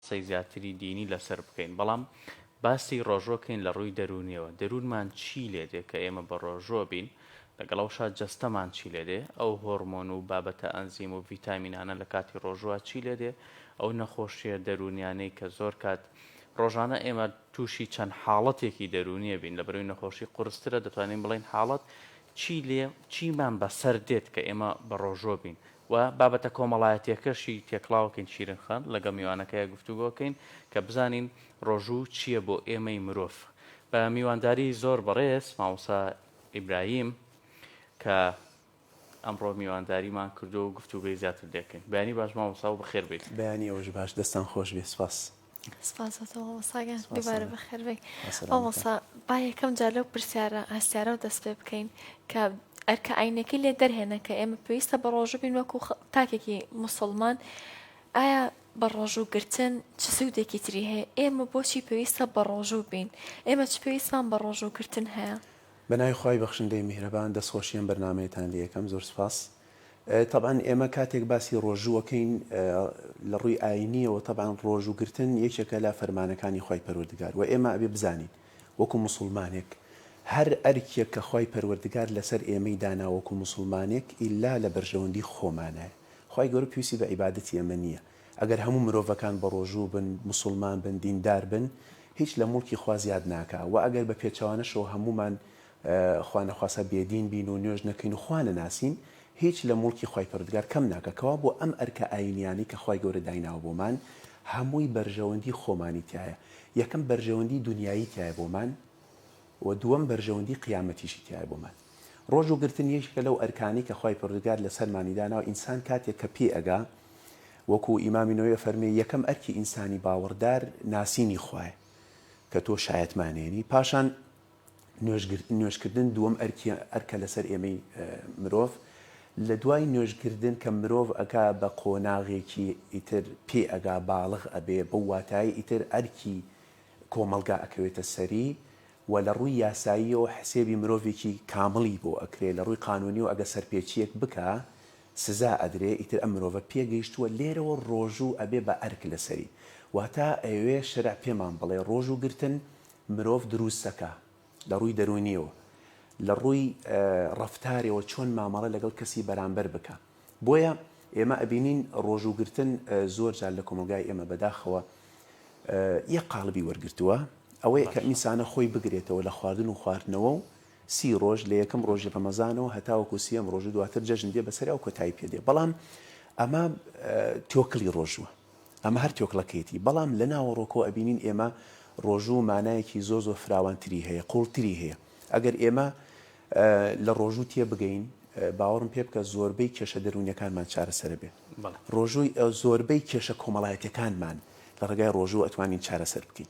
قسەی زیاتری دینی لەسەر بکەین بەڵام باسی ڕۆژوە کەین لە ڕووی دەروونیەوە دەروونمان چی لێ دێ کە ئێمە بە ڕۆژوە بین لەگەڵ ئەوشا جەستەمان چی لێ دێ ئەو هۆرمۆن و بابەتە ئەنزیم و ڤیتامینانە لە کاتی ڕۆژوە چی لێ دێ ئەو نەخۆشیە دەروونیانەی کە زۆر کات ڕۆژانە ئێمە تووشی چەند حاڵەتێکی دەروونیە بین لە بەروی نەخۆشی قورسترە دەتوانین بڵین حاڵەت چی لێ چیمان بەسەر دێت کە ئێمە بە ڕۆژۆ بین و بابەتە کۆمەڵایەتیەکەشی تێکڵاوکەین شیرین خان لەگەڵ میوانەکەیا گفتوگۆکەین کە بزانین ڕۆژوو چیە بۆ ئێمەی مرۆڤ بە میوانداری زۆر بەڕێز مامۆسا ئیبراهیم کە ئەمڕۆ میوانداریمان کردووە و گفتوگۆی زیاتر دێکەین بەیانی باش مامۆسا و بەخێر بێیت. بەیانی ئێوەش باش دەستان خۆش بێ سپاس. سپاس بۆ تۆ مامۆستا گیان سپاس دووبارە سەرکەوتوو. بەخێر بێی ئەسەلام مامۆستا با یەکەم جار لەو پرسیارە هەستیارەوە دەست پێ بکەین کە ئەرکە ئاینەکەی لێ دەرهێنا کە ئێمە پێویستە بە ڕۆژوو بین وەکو خ- تاکێکی موسڵمان ئایا بە ڕۆژوو گرتن چ سوودێکی تری هەیە ئێمە بۆچی پێویستە بە ڕۆژوو بین ئێمە چ پێویستمان بە ڕۆژوو گرتن هەیە بەناوی خوای بەخشندەی میهرەبان دەستخۆشی ئەم بەرنامەیەتان لێ یەکەم زۆر سوپاس تەبعەن ئێمە کاتێک باسی ڕۆژوو ئەکەین لە ڕووی ئاینیەوە تەبعەن ڕۆژوو گرتن یەکێکە لە فەرمانەکانی خوای پەروەردگار وە ئێمە ئەبێ بزانین وەکو موسوڵمانێک هەر ئەرکێک کە خوای پەروەردگار لەسەر ئێمەی دانا وەکو موسوڵمانێک ئیلا لە بەرژەوەندی خۆمانایە خوای گەورە پێویستی بە عیبادەتی ئێمە نیە ئەگەر هەموو مرۆڤەکان بە ڕۆژوو بن موسوڵمان بن دیندار بن هیچ لە موڵکی خوا زیاد ناکا وە ئەگەر بە پێچەوانەشەوە هەموومان خوا نەخواستە بێدین بین و نوێژ نەکەین و خوا نەناسین، هیچ لە موڵکی خوای پەروەردگار کەم ناکا، کەوابوو ئەم ئەرکە ئایینییانەی کە خوای گەورە دایناوە بۆمان، هەمووی بەرژەوەندی خۆمانی تیایە، یەکەم بەرژەوەندی دونیایی تیایە بۆمان و دووەم بەرژەوەندی قیامەتیشی تیایە بۆمان. ڕۆژوو گرتن یەکێکە لەو ئەرکانەی کە خوای پەروەردگار لەسەرمانی داناوە، ئینسان کاتێک کە پێی ئەگا، وەکو ئیمامی نەوەوی ئەفەرموێ، یەکەم ئەرکی ئینسانی باوەڕدار ناسینی خوایە کە تۆ شایەتمانێنی، پاشان نوێژکردن دووەم ئەرکە لەسەر ئێمەی مرۆڤ، لە دوای نوێژکردن کە مرۆڤ ئەگا بە قۆناغێکی ئیتر پێ ئەگا باڵغ ئەبێ بەو واتایەی ئیتر ئەرکی کۆمەڵگا ئەکەوێتە سەری و لە ڕووی یاساییەوە حسێبی مرۆڤێکی کامڵی بۆ ئەکرێ لە ڕووی قانوونیەوە ئەگە سەرپێچیەک بکا سزا ئەدرێ ئیتر ئەم مرۆڤە پێگەیشتووە لێرەوە ڕۆژوو ئەبێ بە ئەرک لەسەری واتا ئەیەوێ شەرع پێمان بڵێ ڕۆژوو گرتن مرۆڤ دروستەکە لە ڕووی دەروونیەوە لە ڕووی ڕەفتارەوە چۆن مامەڵە لەگەڵ کەسی بەرامبەر بکا بۆیە ئێمە ئەبینین ڕۆژوو گرتن زۆر جار لە کۆمەلگای ئێمە بەداخەوە یەک قالبی وەرگرتووە ئەوەیە کە ئینسانە خۆی بگرێتەوە لە خواردن و خواردنەوە و سی ڕۆژ لە یەکەم ڕۆژی ڕەمەزانەوە هەتاوەکو سیەم ڕۆژو دواتر جەژن دێ بەسەریا و کۆتایی پێ دێ بەڵام ئەمە تۆکلی ڕۆژووە. ئەمە هەر تۆکڵەکەیەتی بەڵام لە ناوەڕۆکەوە ئەبینین ئێمە ڕۆژوو مانایەکی زۆر زۆر فراوان تری هەیە قووڵ تری هەیە ئەگەر ئێمە لە ڕۆژوو تێ بگەین باوەڕم پێ بکە زۆربەی کێشە دەروونیەکانمان چارەسەرە بێ ڕۆژووی زۆربەی کێشە کۆمەڵایەتەکانمان لە ڕێگای ڕۆژوو ئەتوانین چارەسەر بکەین.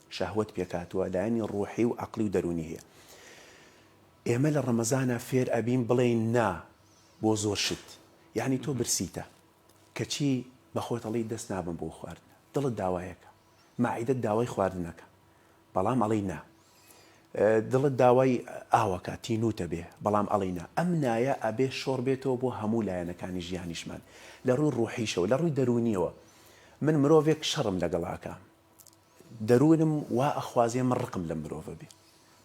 شەهوەت پێکهاتووە لایەنی ڕوحی و عەقلی و دەروونی هەیە ئێمە لە ڕەمەزانا فێر ئەبین بڵێین نا بۆ زۆر شت یەعنی تۆ برسیتە کەچی بە خۆت ئەڵێی دەست نابەم بۆ خواردن دڵت داوایەکە مەعیدەت داوای خواردنەکە بەڵام ئەڵێی نا دڵت داوای ئاوەکە تینووت ئەبێ بەڵام ئەڵێی نا ئەم نایە ئەبێ شۆڕ بێتەوە بۆ هەموو لایەنەکانی ژیانیشمان لە ڕووی ڕوحیشەوە لە ڕووی دەروونیەوە من مرۆڤێک شەڕم لەگەڵاکە دەروونم وا ئەخوازێ من ڕقم لەم مرۆڤە بێ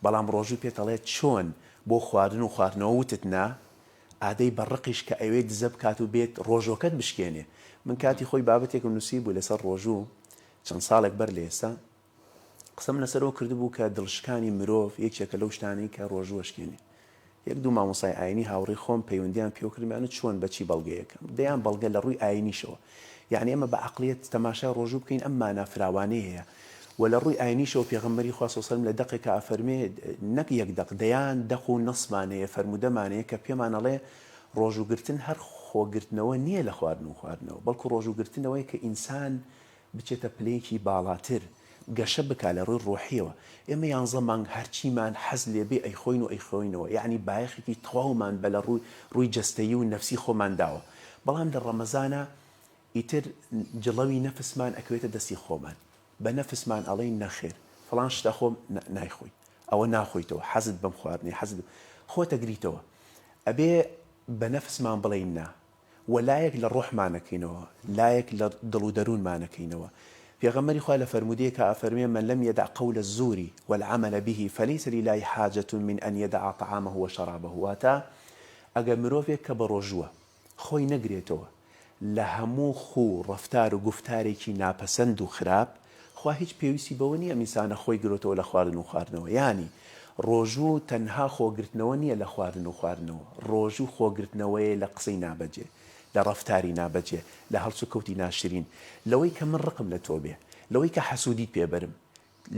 بەڵام ڕۆژوو پێت ئەڵێ چۆن بۆ خواردن و خواردنەوە وتت نا ئادەی بە ڕقیش کە ئەوێ دزە بکات و بێت ڕۆژۆکەت بشکێنێ من کاتی خۆی بابەتێکم نوسی بوو لەسەر ڕۆژوو چەند ساڵێک بەر لە ئێستا قسەم لەسەرەوە کردبوو کە دڵشکانی مرۆڤ یەکێکە لەو شتانەی کە ڕۆژوو ئەشکێنێ یەک دوو مامۆستای ئاینی هاوڕێی خۆم پەیوەندیان پێوە کردمیان و چۆن بە چی بەڵگەیەک؟ دەیان بەڵگە لە ڕووی ئاینیشەوە یانی ئێمە بە عەقڵیەت تەماشای ڕۆژوو بکەین ئەم مانا فراوانەی هەیە وە لە ڕووی ئاینیشەوە پێغەمبەری خوا صلی سلم لە دەقێکا ئەفەرمێ نەک یەک دەق دەیان دەق و نەسمان هەیە فەرموودەمان هەیە کە پێمان ئەڵێ ڕۆژوو گرتن هەر خۆگرتنەوە نیە لە خواردن و خواردنەوە بەڵکو ڕۆژوو گرتنەوەیە کە ئینسان بچێتە پلەیەکی باڵاتر، گەشە بکا لە ڕووی ڕۆحیەوە، ئێمە یانزە مانگ هەرچیمان حەز لێبێ ئەیخۆین و ئەیخۆینەوە، یەعنی بایەخێکی تەواومان بە لە ڕووی ڕووی جەستەیی و نەفسی خۆمان داوە، بەڵام لە ڕەمەزانا ئیتر جڵەوی نەفسمان ئەکەوێتە دەستی خۆمان، بە نەفسمان ئەڵێین نەخێر فڵان شت ئەخۆم، نا نایخۆی، ئەوە ناخۆیتەوە، حەزت بەم خواردنەیە، حەزت بەم، خۆت ئەگریتەوە، ئەبێ بە نەفسمان بڵێین نا. وە لایەک لە ڕۆحمانەکەینەوە لایەک لە دڵ و دەروونمانەکەینەوە پێغەمبەری خوا لە فەرموودەیەکا ئەفەرموێ من لم یدع قول الزور و العمل به فلیس للە حاجە من ان یدع طعامه و شرابه واتە ئەگەر مرۆڤێک کە بەڕۆژووە خۆی نەگرێتەوە لە هەموو خوو ڕەفتار و گوفتارێکی ناپەسەند و خراپ خوا هیچ پێویستی بەوە نییە ئەمینسانە خۆی گرۆتەوە لە خواردن و خواردنەوە یانی ڕۆژوو تەنها خۆگرتنەوە نییە لە خواردن و خواردنەوە ڕۆژوو خۆگرتنەوەیە لە قسەی نابەجێ لە ڕەفتاری نابەجێ لە هەڵسوکەوتی ناشرین لەوەی کە من ڕقم لە تۆ بێ لەوەی کە حەسودیت پێ بەرم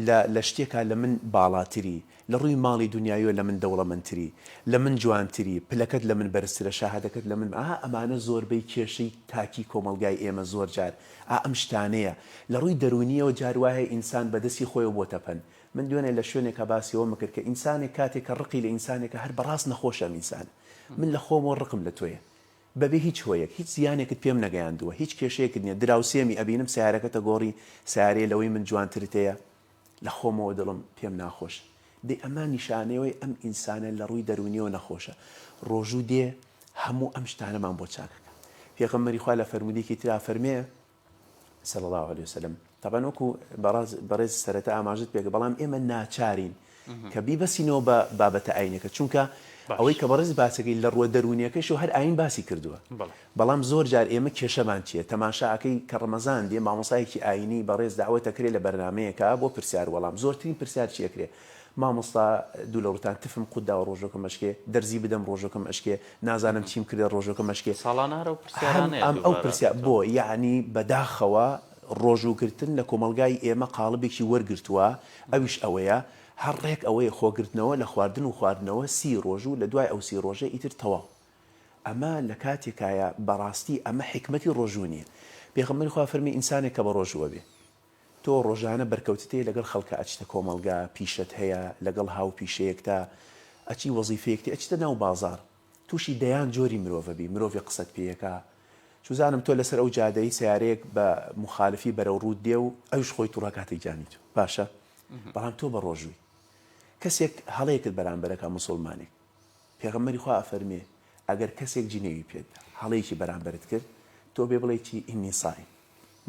لە لە شتێکا لە من باڵاتری لە ڕووی ماڵی دونیاییەوە لە من دەوڵەمەندتری، لە من جوانتری، پلەکەت لە من بەرزترە، شاهادەکەت لە من، ئا ئەمانە زۆربەی کێشەی تاکی کۆمەڵگای ئێمە زۆر جار ئا ئەم شتانەیە. لە ڕووی دەروونییەوە جار وا هەیە ئینسان بە دەستی خۆیەوە بۆتە پەن. من دوێنێ لە شوێنێکا باسی ئەوەم ئەکرد کە ئینسانێک کاتێک کە ڕقی لە ئینسانێکە هەر بەڕاست نەخۆشە ئەم ئینسانە. من لە خۆمەوە ڕقم لە تۆیە. بەبێ هیچ هۆیەک. هیچ زیانێکت پێم نەگەیاندووە. هیچ کێشەیەکت نییە. دراوسێمی ئەبینم سەیارەکەتە گۆڕی سەیارەیە لەوەی من جوانترت هەیە. لە خۆمەوە دڵم پێم ناخۆشە. دەی ئەمە نیشانەیەوەی ئەم ئینسانە لە ڕووی دەروونیەوە نەخۆشە. ڕۆژوو دێ هەموو ئەم شتانەمان بۆ چاک ئەکا. پێغەمبەری خوا لە فەرموودەیەکی ترا فەرمێ، صلی اللە علیە وسلم، تابان وەکوو بەڕێز سەرەتا ئاماژەت پێکرد، بەڵام ئێمە ناچارین کە بیبەستینەوە بە بابەتە ئاینیەکە چونکە ئەوەی کە بەڕێز باسەکەی لە ڕووە دەروونیەکەیشەوە هەر ئاین باسی کردووە بەڵام زۆر جار ئێمە کێشەمان چیە تەماشا ئەکەی کە ڕەمەزان دێ مامۆستایەکی ئاینی بەڕێز دەعوەت ئەکرێ لە بەرنامەیەکا بۆ پرسیار وەڵام زۆرترین پرسیار چی ئەکرێ مامۆستا دوو لە ڕووتان تفم قوت داوە ڕۆژەکەم ئەشکێ دەرزی بدەم ڕۆژەکەم ئەشکێ نازانم چیم کردە ڕۆژەکەم ئەشکێ ساڵانە هەر ئەو پرسیارانەیە ئەم ئەو پرسیار بۆ یەعنی بەداخەوە ڕۆژووگرتن لە کۆمەڵگای ئێمە قاڵبێکی وەرگرتووە، ئەویش ئەوەیە هەر ڕێک ئەوەیە خۆگرتنەوە لە خواردن و خواردنەوە سی ڕۆژ و لە دوای ئەو سی ڕۆژە ئیتر تەواو. ئەمە لە کاتێکایە بەڕاستی ئەمە حیکمەتی ڕۆژوو نییە. پێغەمبەری خوا فەرمی ئینسانێک کە بە ڕۆژووە بێ تۆ ڕۆژانە بەرکەوتت هەیە لەگەڵ خەڵکا ئەچیتە کۆمەڵگا، پیشەت هەیە لەگەڵ هاوپیشەیەکتا، ئەچی وەزیفەیەکتی، ئەچیتە ناو بازاڕ، توشی دەیان جۆری مرۆڤەبی مرۆڤی قسەت پێیەکا چوزانم تۆ لەسەر ئەو جادەی سەیارەیەک بە موخالفی بەرەو ڕووت دێ و ئەویش خۆی توڕە کاتە گیانی تۆ باشە بەڵام تۆ بەڕۆژووی کەسێک هەڵەیەکت بەرامبەرەکە موسوڵمانێک پێغەمبەری خوا ئەفەرمێ ئەگەر کەسێک جنێوی پێتدا هەڵەیەکی بەرامبەرت کرد تۆ بێ بڵێ چی ئینی سایم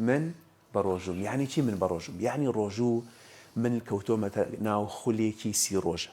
من بەڕۆژووم یعنی چی من بەڕۆژووم یعنی ڕۆژوو من کەوتۆمەتە ناو خولێکی سی ڕۆژە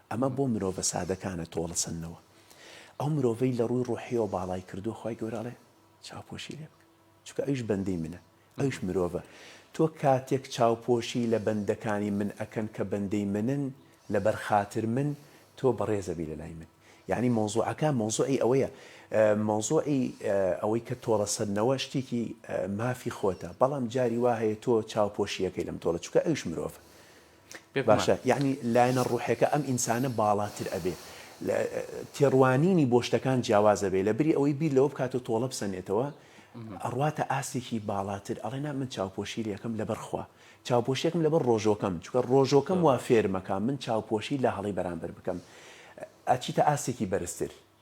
ئەمە بۆ مرۆڤە سادەکانە تۆڵەسەندنەوە ئەو مرۆڤەی لەڕووی ڕۆحیەوە باڵای کردووە خوای گەورە ئەڵێ چاوپۆشی لێ بکە چونکە ئەویش بەندەی منە ئەویش مرۆڤە تۆ کاتێک چاوپۆشی لە بەندەکانی من ئەکەن کە بەندەی منن لەبەر خاتر من تۆ بەڕێز ئەبی لەلای من یانی مەوزوعەکە مەوزوعی ئەوەیە مەوزوعی ئەوەی کە تۆڵەسەندنەوە شتێکی مافی خۆتە بەڵام جاری وا هەیە تۆ چاوپۆشی ئەکەی لەم تۆڵە چونکە ئەویش مرۆڤە باشە یەعنی لایەنە ڕوحێکە ئەم ئینسانە باڵاتر ئەبێ لە تێڕوانینی بۆ شتەکان جیاواز ئەبێ لە بری ئەوەی بیر لەوە بکاتەوە تۆڵە بسەنێتەوە ئەڕواتە ئاستێکی باڵاتر ئەڵێ نا من چاوپۆشی لەکەم لەبەر خوا چاوپۆشیەکەم لەبەر ڕۆژۆکەم چکە ڕۆژۆکەم وا فێرمەکە من چاوپۆشی لە هەڵی بەرامبەر بکەم ئەچیتە ئاستێکی بەرزتر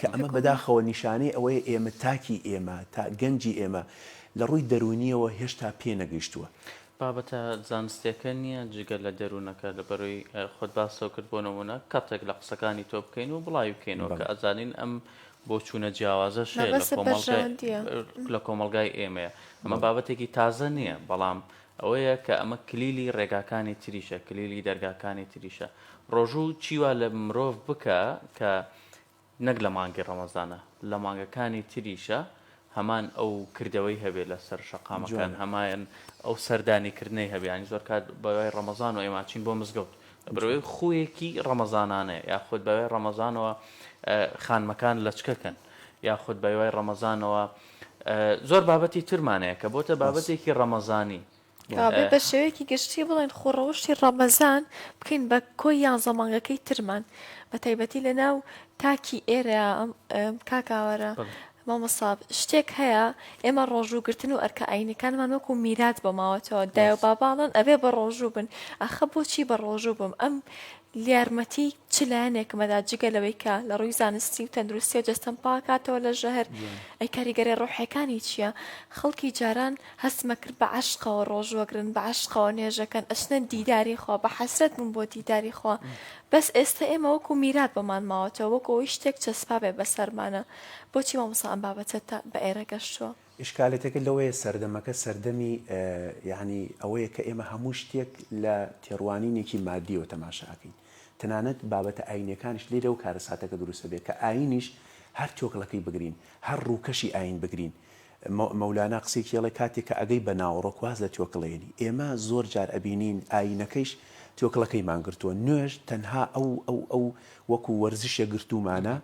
کە ئەمە بەداخەوە نیشانەی ئەوەیە ئێمە تاکی ئێمە، تا گەنجی ئێمە لە ڕووی دەروونییەوە هێشتا پێ نەگەیشتووە. بابەتە زانستیەکە نیە جگە لە دەروونەکە لە بەروی خۆت باستەوە کرد بۆ نمونە کەتێک لە قسەکانی تۆ بکەین و بڵاوی بکەینەوە کە ئەزانین ئەم بۆچوونە جیاوازەش هەیە لە کۆمەڵگای لە کۆمەڵگای ئێمەیە ئەمە بابەتێکی تازە نیە بەڵام ئەوەیە کە ئەمە کلیلی ڕێگاکانی تریشە کلیلی دەرگاکانی تریشە ڕۆژوو چیوا لە مرۆڤ بکە کە نەک لە مانگی ڕەمەزانە لە مانگەکانی تریشە هەمان ئەو کردەوەی هەبێ لەسەر شەقامەکان هەمایان ئەو سەردانی کردنەی هەبێ ینی زۆر کات بەوای ڕەمەزان و ئێماچین بۆ مزگەوت بەرەوەی خویەکی ڕەمەزانانە یاخود بەوای ڕەمەزانەوە خانمەکان لەچکەکەن یاخود بەوای ڕەمەزانەوە زۆر بابەتی ترمانەیە کە بۆتە بابەتێکی ڕەمەزانی کابێ بە شێوەیەکی گشتی بڵێن خۆ ڕەوشی ڕەمەزان بکەین بە کۆی یانزە مانگەکەی ترمان بە تایبەتی لە ناو تاکی ئێرە کاکاوەرە مامەساب شتێک هەیە ئێمە ڕۆژووگرتن و ئەرکە ئاینەکانمان وەکو میرات بۆ ماوەتەوە دایە باباڵن ئەبێ بە ڕۆژوو بن ئەخە بۆچی بە ڕۆژوو بم ئەم لیارمەتی چ لایەنێکم ئەدا جگە لەوەی کە لە ڕووی زانستی و تەندروستی و جەستەم پاکاتەوە لە ژەهر؟ ئەی کاریگەرێ ڕۆحێکانی چیە؟ خەڵکی جاران هەستمە کرد بە عەشقەوە ڕۆژوەگرن بە عەشقەوە نوێژەکەن ئەچنە دیداری خوا بە حەسرەت بوون بۆ دیداری خوا بەس ئێستە ئێمە وەکو میرات بۆمان ماوەتەوە وەکو ئەوەی شتێک چەسپابێ بەسەرمانا بۆچی مامۆسا ئەم بابەتەت بە ئێرە گەشتووە؟ ئیشکالێتەکە لەوەیە سەردەمەکە سەردەمی یەعنی ئەوەیە کە ئێمە هەموو شتێک لە تێڕوانینێکی مادیەوە تەماشا ئەکەین تەنانەت بابەتە ئاینیەکانیش لێرەوە کارەساتەکە دروست ئەبێت کە ئاینیش هەر تۆکڵەکەی بگرین هەر ڕووکەشی ئاین بگرین مەولانا قسەیەکی هەڵێ کاتێک کە ئەگەی بە ناوەڕۆک واز لە تۆکڵەیەنی ئێمە زۆر جار ئەبینین ئاینەکەیش تۆکڵەکەیمان گرتووە نوێژ تەنها ئەو ئەو ئەو وەکو وەرزشێک گرتوومانە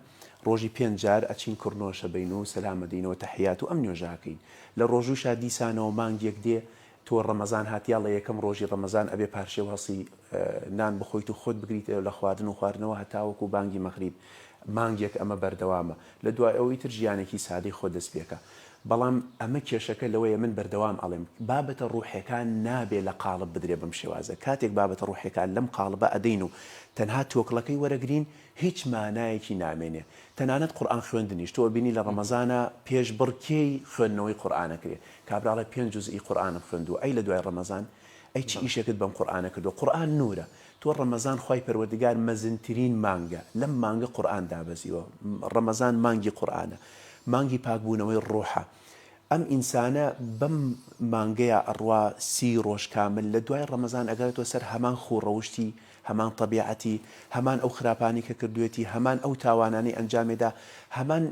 ڕۆژی پێنج جار ئەچین کڕنۆ شەبەین و سەلام ئەدەین و تەحیات و ئەم نوێژە ئەکەین لە ڕۆژووشا دیسانەوە مانگێک دێ تۆ ڕەمەزان هات یا ڵە یەکەم ڕۆژی ڕەمەزان ئەبێ پارشێو هەڵسی نان بخۆیت و خۆت بگریتەێ لە خواردن و خواردنەوە هەتاوەکو بانگی مەغریب مانگێک ئەمە بەردەوامە لە دوای ئەوە ئیتر ژیانێکی سادەی خۆت دەست پێکە بەڵام ئەمە کێشەکە لەوەیە من بەردەوام ئەڵێم بابەتە ڕوحێکان نابێ لە قاڵب بدرێ بەم شێوازە کاتێک بابەتە ڕوحێکان لەم قاڵبە ئەدەین و تەنها تۆکڵەکەی وەرەگرین هیچ مانایەکی نامێنێ تەنانەت قورئان خوێندنیش تۆ ئەبینی لە ڕەمەزانا پێش بڕکێی خوێندنەوەی قورئان ئەکرێ کابراڵێ پێنج جوز ی قورئانم خوێندووە ئەی لە دوای ڕەمەزان ئەی چ ئیشێکت بەم قورئانە کردووە قورئان نورە تۆ ڕەمەزان خوای پەروەردگار مەزنترین مانگە لەم مانگە قورئان دابەزیوە ڕەمەزان مانگی قورئانە مانگی پاکبوونەوەی ڕۆحە ئەم ئینسانە بەم مانگەیا ئەڕوا سی ڕۆژ کامل لە دوای ڕەمەزان ئەگەڕێتەوە سەر هەمان خوو ڕەوشتی هەمان تەبیعەتی، هەمان ئەو خراپانەی کە کردووێتی، هەمان ئەو تاوانانەی ئەنجامێدا، هەمان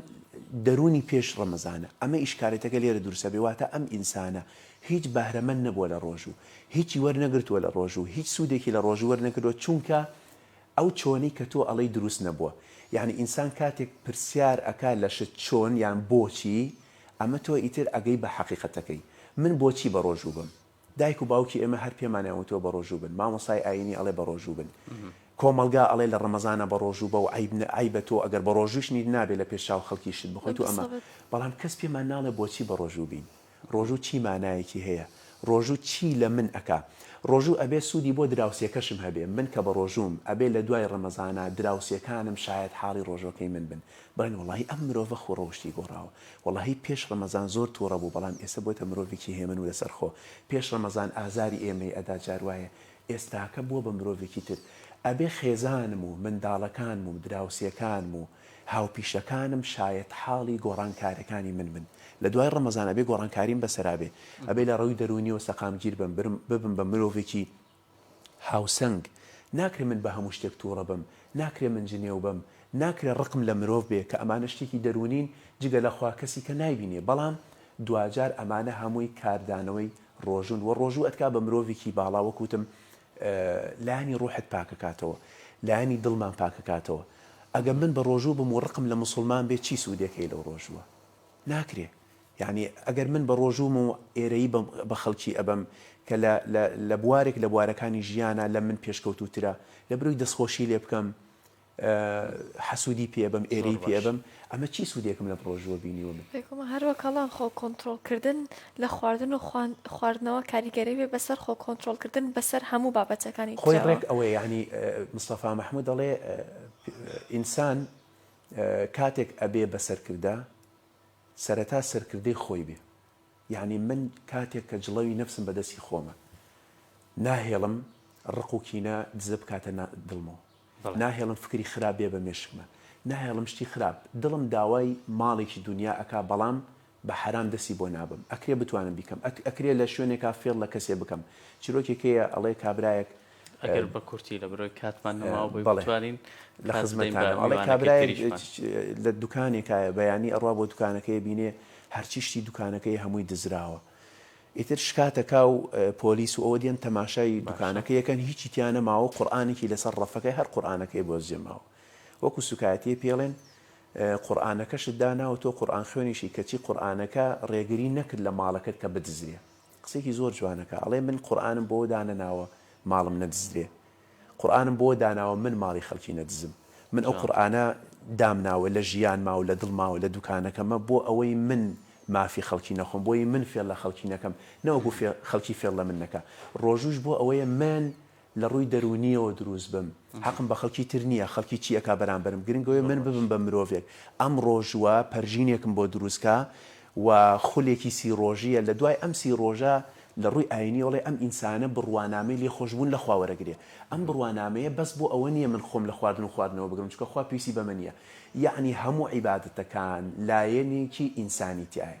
دەروونی پێش ڕەمەزانە. ئەمە ئیشکالێتەکە لێرە دروستەبێ، واتە ئەم ئینسانە هیچ بەهرەمەند نەبووە لە ڕۆژوو، هیچی وەرنەگرتووە لە ڕۆژوو، هیچ سوودێکی لە ڕۆژوو وەرنەگرتووە، چونکە ئەو چۆنی کە تۆ ئەڵێی دروست نەبووە. یەعنی ئینسان کاتێک پرسیار ئەکا لە شت چۆن یان بۆچی، ئەمە تۆ ئیتر ئەگەی بە حەقیقەتەکەی. من بۆچی بە ڕۆژوو بم؟ دایک و باوکی ئێمە هەر پێمانیان وتووە بەڕۆژوو بن، مامۆستای ئایینی ئەڵێ بەڕۆژوو بن، کۆمەڵگا ئەڵێ لە ڕەمەزانە بەڕۆژوو بە و عەیبە تۆ ئەگەر بەڕۆژووش نیت نابێ لە پێش چاو خەڵکی شت بخۆیت و ئەمە، بەڵام کەس پێمان ناڵێ بۆچی بەڕۆژوو بین؟ ڕۆژوو چی مانایەکی هەیە؟ ڕۆژوو چی لە من ئەکا؟ ڕۆژوو ئەبێ سوودی بۆ دراوسێکەشم هەبێ، من کە بەڕۆژووم ئەبێ لە دوای ڕەمەزانە دراوسێکانم شایەتحاڵی ڕۆژووەکەی من بن، بڵێن وەڵاهی ئەم مرۆڤە خۆ ڕەوشتی گۆڕاوە، وەڵا هی پێش ڕەمەزان زۆر توڕە بوو بەڵام ئێسە بۆتە مرۆڤێکی هێمن و لەسەر خۆ پێش ڕەمەزان ئازاری ئێمەی ئەدا جار وایە ئێستاکە بووە بە مرۆڤێکی تر ئەبێ خێزانم و منداڵەکانم و دراوسێکانم و هاوپیشەکانم شایەت حاڵی گۆڕانکارەکانی من بن لە دوای ڕەمەزان ئەبێ گۆڕانکاریم بەسەرا بێ ئەبێ لە ڕووی دەروونیەوە سەقامگیر بم ببم بە مرۆڤێکی هاوسەنگ، ناکرێ من بە هەموو شتێک تووڕە بم، ناکرێ من جنێو بەم، ناکرێ ڕقم لە مرۆڤ بێ کە ئەمانە شتێکی دەروونین جگە لە خوا کەسیکە نایبینێ بەڵام دواجار ئەمانە هەمووی کاردانەوەی ڕۆژوون وە ڕۆژوو ئەتکا بە مرۆڤێکی باڵا وەک وتم لایەنی ڕوحت پاکەکاتەوە لایەنی دڵمان پاکەکاتەوە ئەگە من بە ڕۆژوو بم و ڕقم لە موسوڵمان بێ چی سوودێک هەیە لەو ڕۆژووە ناکرێ یەعنی ئەگەر من بەڕۆژووم و ئێرەیی بم بە خەڵکی ئەبەم کە لە لە لە بوارێک لە بوارەکانی ژیانا لە من پێشکەوتووترە لە برۆی دەستخۆشی لێ بکەم حەسوودی پێ ئەبەم ئێرەیی پێ ئەبەم ئەمە چی سوودێکم لەم ڕۆژووە بینیوە من. بێگوومان هەر وەک ئەڵێن خۆ کۆنتڕۆڵ کردن لە خواردن و خوان خواردنەوە کاریگەری بێ بە سەر خۆ کۆنتڕۆڵ کردن بە سەر هەموو بابەتەکانی خۆی ترەوە. ڕێک ئەوەیە یەعنی مستەفا مەحموود دەڵێ ئینسان کاتێک ئەبێ بە سەرکردە سەرەتا سەرکردەی خۆی بێ یانی من کاتێک کە جڵەوی نەفسم بە دەستی خۆمە ناهێڵم ڕق و کینە دزە بکاتە نا دڵمەوە ناهێڵم فکری خراپ بێ بە مێشکمە ناهێڵم شتی خراپ دڵم داوای ماڵێکی دونیا ئەکا بەڵام بە حەرام دەستی بۆ نابەم ئەکرێ بتوانم بیکەم ئەک ئەکرێ لە شوێنێکا فێڵ لە کەسێ بکەم چیرۆکێک هەیە ئەڵێ کابرایەک ئەگەر بە کورتی لە برۆی کاتمان نەماوە بۆی بتوانین لە خزمەتانەڵێ کابرای لە دوکانێکایە بەیانی ئەڕوا بۆ دوکانەکەی بینێ هەرچی شتی دوکانەکەی هەمووی دزراوە ئیتر شکاتەکا و پۆلیس و ئەوە دێن تەماشای دوکانەکە یەکەن هیچی تیانە ماوە قورآانێکی لەسەر ڕەفەکەی هەر قورآانەکەی بۆ زێماوە وەکو سوکایەتی پێڵێن قورآانەکەشت داناوە تۆ قورآان خوێنیشی کەچی قورآانەکە ڕێگری نەکرد لە ماڵەکەت کە بدزرێ قسەیەکی زۆر جوانەکا ئەڵێ من قورئانم بۆوە دانەناوە ماڵم نەدزدرێ قورئانم بۆوە داناوە من ماڵی خەڵکی نەدزم من ئەو قورئانە دامناوە لە ژیانما و لە دڵما و لە دوکانەکەما بۆ ئەوەی من مافی خەڵکی نەخۆم بۆی من فێڵ لە خەڵکی نەکەم نەوەکو خەڵکی فێڵ لە من نەکا ڕۆژووش بۆ ئەوەیە من لە ڕووی دەروونییەوە دروست بم، حەقم بە خەڵکی تر نییە، خەڵکی چی ئەکا بەرامبەرم، گرنگ ئەوەیە من ببم بە مرۆڤێک. ئەم ڕۆژووە پەرژینێکم بۆ دروست کا و خولێکی سی ڕۆژییە، لە دوای ئەم سی ڕۆژە لە ڕووی ئایینییەوە ئەڵێ ئەم ئینسانە بڕوانامەی لێخۆشبوون لە خوا وەرەگرێ. ئەم بڕوانامەیە بەس بۆ ئەوە نییە من خۆم لە خواردن و خواردنەوە بگرم، چونکە خوا پێویستی بەمە نییە. یەعنی هەموو عیبادەتەکان لایەنێکی ئینسانیتیایە.